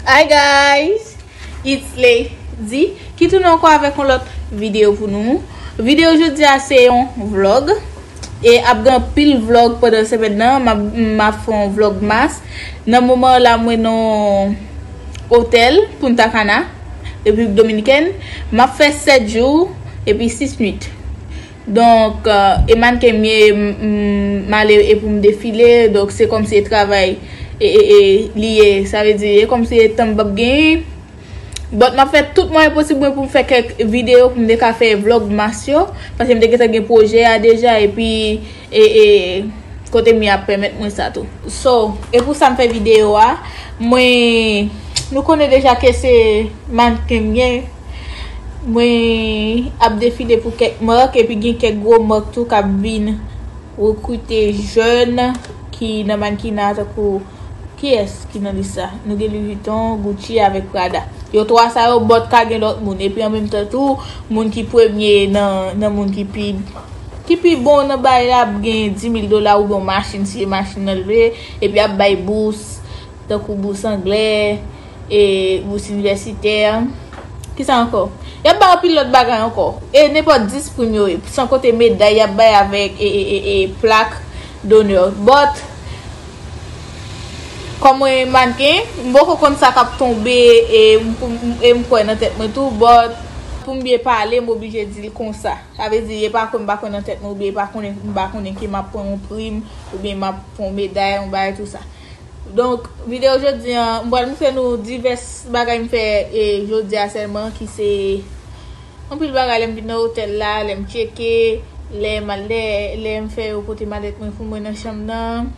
Hi guys It's Lady Ki tounen anko avèk yon lòt video pou nou Video jodia se yon vlog E ap gen pil vlog pandan semèn nan Ma fon vlog mas Nan moman la mwen nan Hotel Punta Cana Republik Dominikèn Ma fè 7 jou Epi 6 nwit Donk e mannequin m ye m ale e pou m defile donk se kòmsi e travay li ye sa vle di e kòmsi e tan m pap genyen but map fè tout mwayen posib mwen pou m fè kèk videyo pou m te ka fè vlogmas yo paske m te gentan gen pwojè a deja epi e kote m ye ap pèmèt mwen sa tou so e pou sa m fè videyo a mwen nou konnen deja ke se mannequin m ye. Mwen ap defile pou kèk mark epi gen kèk gwo mark tou kap vin rekrite jèn ki nan mankina takou ki es ki nan lis la. Nou gen Louis Vuitton, Gucci avèk Prada. Yo 3 sa yo but ka gen lòt moun epi an menm tan tou moun ki premye nan moun ki pi ki pi bon nan bay la ap gen 10000 dola oubyen yon machin si e machin nan l vle epi yap bay bous takou bous anglè. E bous inivèsitè. Ki sa ankò? Y ap bay anpil lòt bagay ankò. E nenpòt 10 prim yo ye. San konte meday y ap bay avèk e plak donè. Bòt, kòm mwen mannequin, m poko konn sa k ap tonbe e m kwè nan tèt mwen tou, bòt, pou m byen pale, m oblije di l konsa. Sa vle di, e pa kwè m pa kwè nan tèt mwen oubyen e pa konnen m pa konnen ke m ap pran yon prim oubyen m ap pran yon meday, yon bagay tou sa. Donk video jodi an m pral moutre nou divès bagay m fè jodi a sèlman ki se anpil bagay lè m vin nan otèl la lè m tcheke lè m al dèyè lè m fè yo pote malèt mwen pou mwen nan chanm nan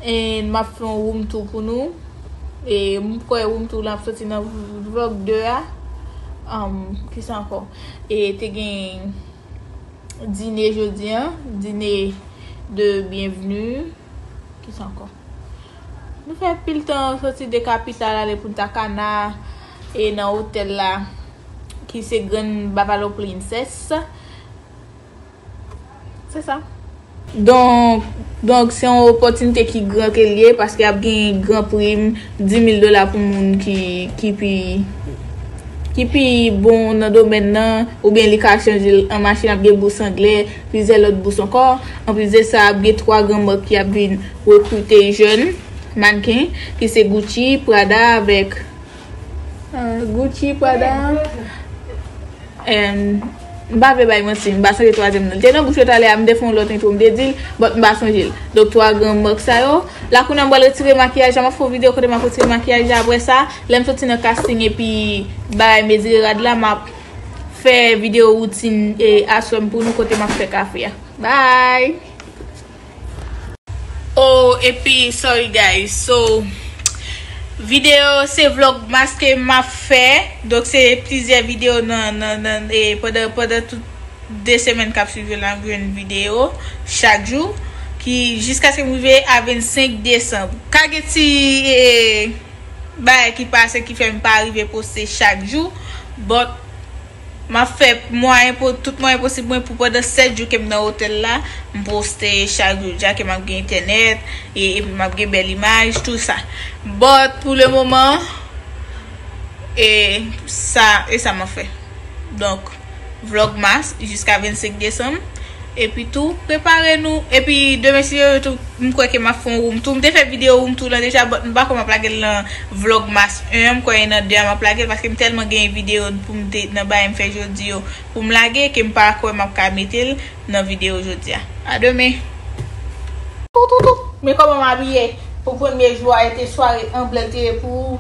and m ap fè yon room tour pou nou e m kwè room tour lan ap soti nan vlog 2 a kisa ankò e te gen. dine jodi an, dine de byenvni, ki sa ankò? Nou fè pil tan soti de kapital ale Punta Cana e nan otèl la ki se Grand Bavalo Princess. Se sa. Donk, donk se yon opòtinite ki gran ke l ye paske ap gen gran prim 10,000 dola pou moun ki, ki pi, ki pi bon nan domèn nan, oubyen li ka chanje l an machin, ap gen bous angle, plizyè lòt bous ankò. Anplis de sa, ap gen 3 gran mak ki ap vin rekrite jèn mannken, ki se Gucci, Prada avèk. Gucci, Prada And M pa vle bay manti, m pa sonje twazyèm nan. Li te nan bouch yo talè a, m te fè yon lòt entwo m te di l, but m pa sonje l. Donk 3 gran mark sa yo. La kounye a m pral retire makiyaj la, m ap fè yon videyo kote m ap retire makiyaj la aprè sa. Lè m soti nan casting epi bagay mezire rad la, m ap fè videyo routine e aswè m pou nou kote m ap fè kafe a. Bye! Oh epi sorry guys so video se vlogmas ke map fè donk se plizyè video nan pandan tout 2 semèn kap swiv yo la nap jwenn video chak jou ki jiskaskem rive a 25 desanm ka gen ti bagay ki pase ki fèm pa rive poste chak jou but M ap fè tout mwayen posib mwen pou pandan 7 jou ke m nan otèl la, m poste chak jou dja ke m ap gen entènèt, epi m ap gen bèl imaj, tout sa. But, pou le moman, e sa m ap fè. Donk, Vlogmas jiska 25 desanm. Epi tou, prepare nou. Epi demen si Yo retou m kwè ke map fè yon room tou. M te fè video room tou lan deja but m pa kwè map lage l lan vlogmas 1 an, m kwè e nan 2 a map lage l paske m tèlman genyen video poum te nan bagay m fè jodi yo poum lage ke m pa kwè map ka mete l nan video jodi a. A demen. Toutoutoutou Men kòman m abiye pou premye jou a ete sware an blèd te ye pou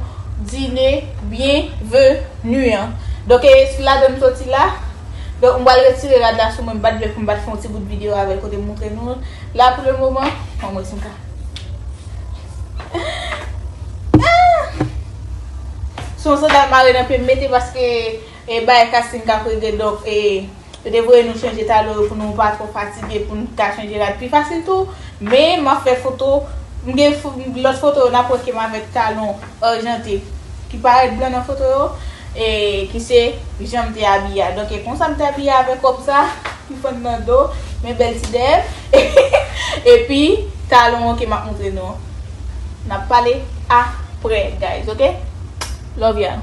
dine byen ve nu an donk e ladan m soti la. Donk m pral retire rad la sou mwen m pat vle fòm pat fè yon ti bout video avèl kote m montre noul la pou le moman anmwey si m ka ahh son sandal mare nan pye m mete paske e bay casting kap regle donk e yo te voye nou chanje talon yo pou nou pa twò fatige pou nou ka chanje rad pi fasil tou men map fè foto m gen lòt foto yo nap wè ke m avèk talon. Argente, ki parèt blan nan foto yo, e ki se jan m te abiye a. Donk e konsa m te abiye avèk wòb sa ki fann nan do, men bèl ti dèyè, epi talon ok m ap montre nou. N ap pale aprè guys ok. Love y'all.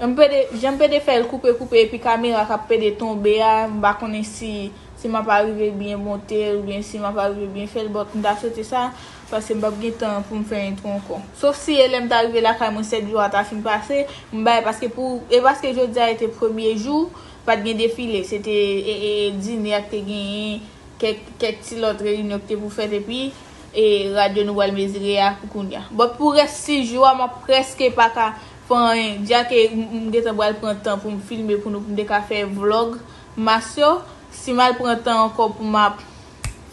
Janm pede fèl koupe koupe epi kamera kap pede tonbe a mpa konnen si si map arive byen montel oubyen si map arive byen fèl but mta swete sa paske mpap gen tan poum fè intro ankò sof si e lèm ta rive lakay mwen 7 jou a ta fin pase mbay paske pou e paske jodia ete premye jou pat gen defile se te e dine ak te genyen kèk kèk ti lòt reyinyon ki te pou fèt epi e radyo nou pral mezire a pou kounya but pou rès 6 jou a map prèske paka Fany, Jack e m gentan bral pran tan pou m filme pou nou pou m te ka fè vlog mas yo, si m al pran tan ankò pou m ap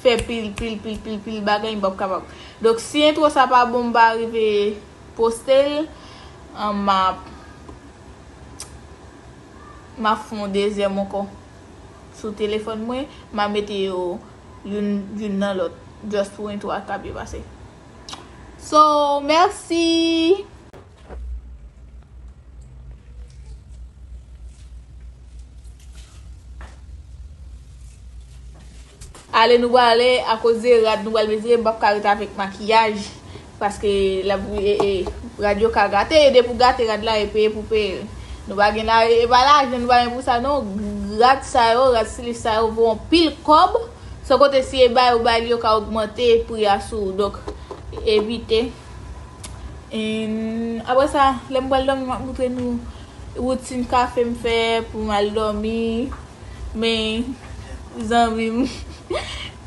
fè pil pil pil pil pil bagay m pap kapab. Donk si entwo sa pa bon m pa rive poste l m ap m ap fon dezyèm ankò sou telefòn mwen m a mete yo youn youn nan lòt just pou entwo a ka byen pase. So mèsi! Ale nou wale a koze rad nou wale mezire m pap ka rete avèk makiyaj paske la bouy e e rad yo ka gate e de pou gate rad la e peye pou peye nou pa gen la e pa la jen nou pa gen pou sa nou rad sa yo rad stilif sa yo vou an pil kòb san kote si e bay ou bay li yo ka ogmante pri a sou ou dok evite. Yn aprè sa lèm pral dòmi map moutre nou woutin kafe m fè pou m al dòmi men zanmim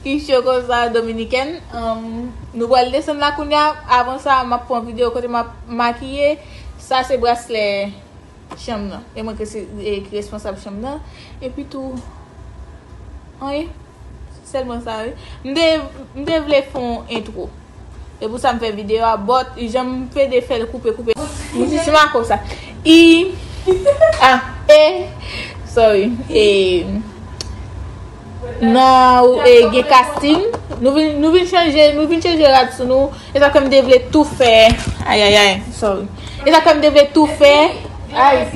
ki cho konsa dominikèn nou pral desann la kounya avan sa map pran video kote map makiye sa se braslè chanm nan e mwen ki responsab chanm nan epi tou anyen. Selman sa wi. M te m te vle fè yon intro. E pou sa m fè video a but jan m pede fè l koupe koupe. M si si mako sa. I ah e sorry e nan ou e gen casting nou vin nou vin chanje nou vin chanje rad sou nou e sa fè m te vle tou fè ayayay sorry e sa fè m te vle tou fè ay.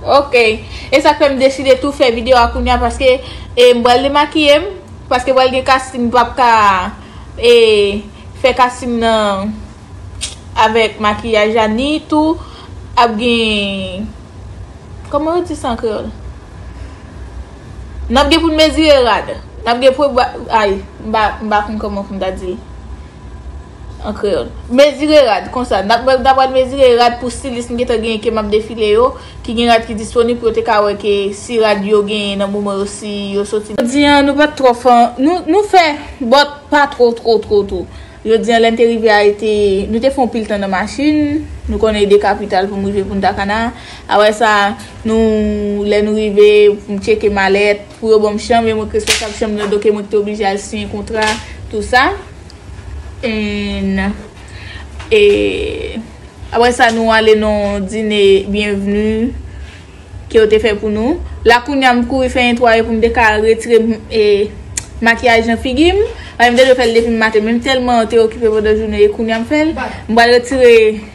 Ok e sak fèm deside tou fè video a kounya paske e m pral demakiyem paske pral gen kasting m pap ka e fè kasting nan avèk makiyaj la ni tou ap gen kòman yo di sa an kreyòl nap gen pou n mezire rad nap gen pou ay m pa konn kòman pou m ta di l. An kreyòl. Mezire rad, konsa, n ap pral mezire rad pou stilis m gentan genyen ke m ap defile yo, ki gen rad ki disponib pou yo te ka wè ke si rad yo genyen nan moman yo si yo soti. Jodi an, nou pa t twò fò, nou fè, but pa two two two two. Jodi an lè n te rive a e te, nou te fè yon pil tan nan machin, nou konnen e de kapital pou m rive Punta Cana, aprè sa nou, lè nou rive pou m tcheke malèt, pou yo ban m chanm e mwen k responsab chanm nan donke mwen k te oblije al siyen kontra, tou sa. N. E. Apre sa nou ale nan yon dine byenvni ke yo te fè pou nou. La kounye a m kouri fè netwaye pou m te ka retire makiyaj nan figi m. Paske m te dwe fè l depi m maten men m tèlman te okipe pandan jounen e kounye a m fè l. M pral retire.